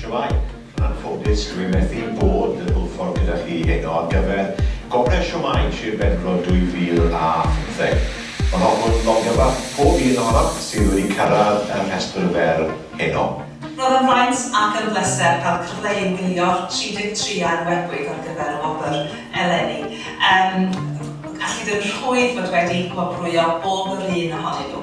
Shwmae, yn anffodus dw i methu bod yn Hwlffordd gyda chi heno ar gyfer Gogledd Shwmae Sir Benfro 2015. Mae hoffwn longyfarch pob un ohonoch sydd wedi cyrraedd y rhestr fer heno. Roedd yn fraint ac yn bleser cael y cyfle i egnïo'r 33 a enwebwyd ar gyfer y wobr eleni. Yym, allid yn rhwydd fod wedi gwobrwyo bob yr un ohonyn nhw.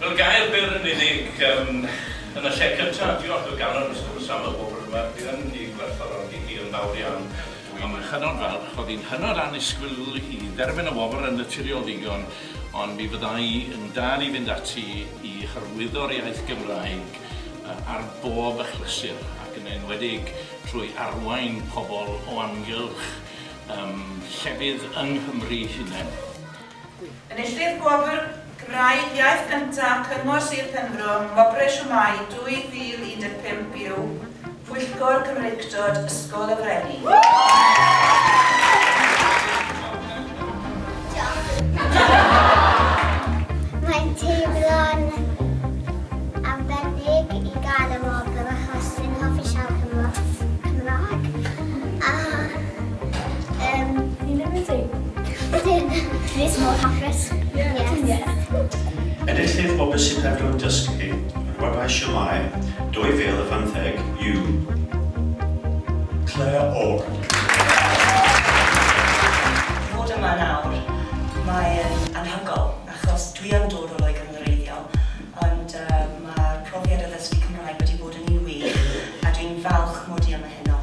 Fel gair byr yn unig, yym, yn y lle cynta, diolch o galon wrth gwrs am y wobr yma, dwi yn ei gwerthfawrogi hi yn fawr iawn. Dwi'n hynod falch, o'dd hi'n hynod annisgwyl i dderfyn y wobr yn naturiol ddigon, ond mi fydda i yn dal i fynd ati i hyrwyddo'r iaith Gymraeg yy ar bob achlysur, ac yn enwedig trwy arwain pobl o amgylch yym llefydd yng Nghymru'i hunen. Enillydd Gwobr Cymraeg Iaith Gyntaf Cyngor Sir Penfro am Wobrau Siwmai 2015 yw Pwyllgor Cymreictod Ysgol y Freni. Yym, fi ddim yn dweud. Ti'n Chris mor hapus. Enillydd o Be' Sy'n Peryglu'n Dysgu? yr Webau Siomai 2018 yw Claire Orr. Fod yma nawr, mae'n anhygoel, achos dwi yn dod o Loegr yn wreiddiol, ond yy ma'r profiad o ddysgu Cymraeg wedi bod yn un wych, a dwi'n falch mod i yma heno.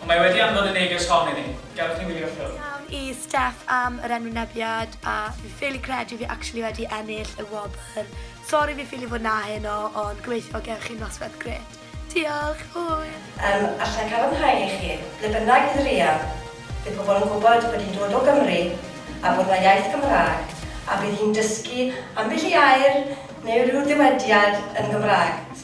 Ond mae wedi anfon y neges hon i ni. Gadewch ni wylio ffilm. Diolch i Steff am yr enwynebiad a fi ffili credu fi actually wedi ennill y wobr. Sori fi ffili fod 'na heno ond gobeithio gewch chi nosweth grêt. Diolch! Hwyl! Yym, alla i cadarnhau i chi, ble bynnag bydd Ria, bydd pobl yn gwybod bod hi'n dod o Gymru a bod 'na iaith Gymraeg a bydd hi'n dysgu ambell i air neu ryw ddywediad yn Gymraeg.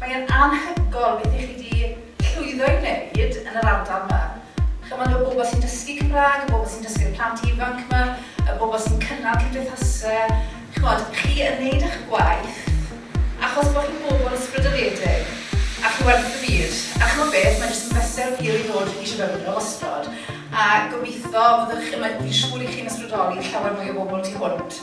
Mae e'n anhygoel beth 'y chi 'di llwyddo i wneud yn yr ardal 'ma. Ch'mod, y bobl sy'n dysgu Cymraeg, y bobl sy'n dysgu'r plant ifanc 'ma, y bobl sy'n cynnal cymdeithase, ch'mod, chi yn wneud 'ych gwaith achos bo' chi'n bobl ysbrydoledig a chi werth y byd. A ch'mod beth, mae jyst yn bleser wir i ddod i Shefyldra wastod a gobeitho fyddwch chi'n, mae, fi'n siŵr 'y chi'n ysbrydoli llawer mwy o bobl tu hwnt.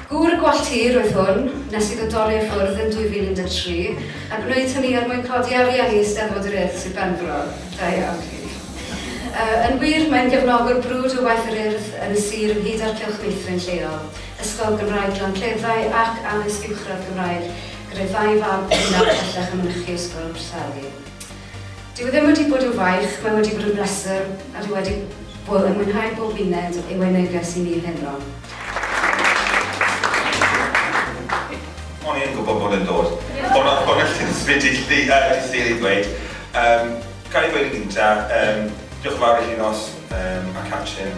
Gŵr gwallt hir oedd hwn, nes iddo dorri i ffwrdd yn 2013, a gwneud hynny er mwyn codi arian i Eisteddfod yr Urdd, Sir Benfro. Da iawn chi. Yy, yn wir, mae'n gefnogwr brwd o waith yr Urdd yn y sir ynghyd â'r cylch meithrin lleol, Ysgol Gymraeg Glancleddau ac Addysg Uwchradd Gymraeg, gyda'i ddau fab bennaf bellach yn mynychu Ysgol Abertdali. Dyw e ddim wedi bod yn faich, mae wedi bod yn bleser a dwi wedi bod yn mwynhau bob uned ei weu neges i mi heno. O'n i yn gwybod bod e'n dod. O'n o'n o'n allwn ddim dy ll- yy dy llun i ddweud. Yym, ga'i ddweud yn gynta, yym, diolch yn fawr i Llinos, yym, a Catrin,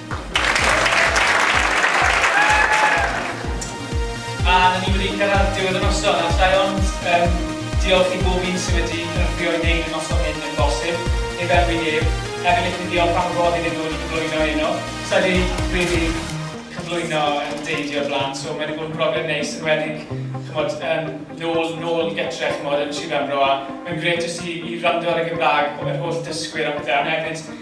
A ni wedi cyrraedd diwedd y noson, a allai ond yym diolch i bob un sydd wedi cynorthwyo i wneud y noson hyn yn bosib, heb enwi neb. Hefyd licen i ddiolch am y fodd iddyn nhw wedi cyflwyno eno. Sa i 'di rili cyflwyno yn deidio o'r blaen, so mae 'di bod yn brofiad neis, enwedig ch'mod yym nôl nôl gytre ch'mod yn Sir Benfro, a mae'n grêt jyst i i wrando ar y Gymraeg yr holl dysgwyr a pethe, ond hefyd